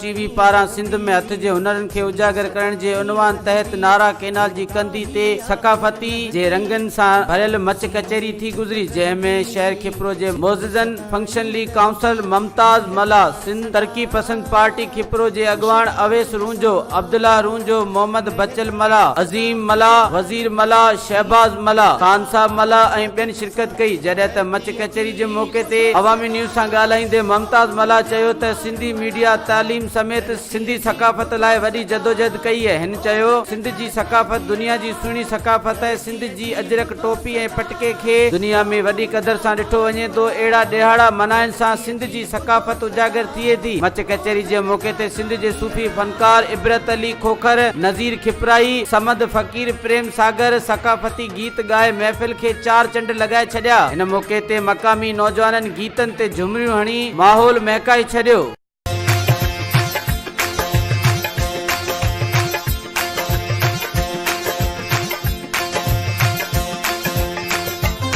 ٽي V پاران سنڌ ۾ هٿ جي هنرن کي اجاگر ڪرڻ جي عنوان تحت نارا ڪئنال جي ڪنڌي تي ثقافتي جي رنگن سان ڀريل مچ ڪچهري ٿي گذري جنهن ۾ شهر کپرو جي معززن function league council Mumtaz Mallah Sindh ترقي پسند پارٽي کپرو جي اڳواڻ اويس رونجهو عبدالله رونجهو محمد بچل ملاح عظيم ملاح وزير ملاح شهباز ملاح خانصاحب ملاح ۽ ٻين شرڪت ڪئي جڏهن ته مچ ڪچهري جي موقعي تي عوامي نيوز سان ڳالهائيندي ممتاز ملاح چيو ته سنڌي ميڊيا، تعليم سميت سنڌي ثقافت لاء وڏي جدوجهد ڪئي. هن چيو، سنڌ جي ثقافت دنيا جي سهڻي ثقافت آهي، سنڌ جي اجرڪ، ٽوپي ۽ پٽڪي کي دنيا ۾ وڏي قدر سان ڏٺو وڃي ٿو، اهڙا ڏهاڙا منائڻ سان سنڌ جي ثقافت اجاگر ٿئي ٿي. مچ ڪچهري جي موقعي تي سنڌ جي صوفي فنڪار عبرت علي کوکر، نذير کپرائي، صمد فقير، پريم ساگر، ثقافتي گيت ڳائي محفل کي چار چنڊ لڳائي ڇڏيا. هن موقعي تي مقامي نوجوانن گيتن تي جهمريون هڻي ماحول مهڪائي ڇڏيو.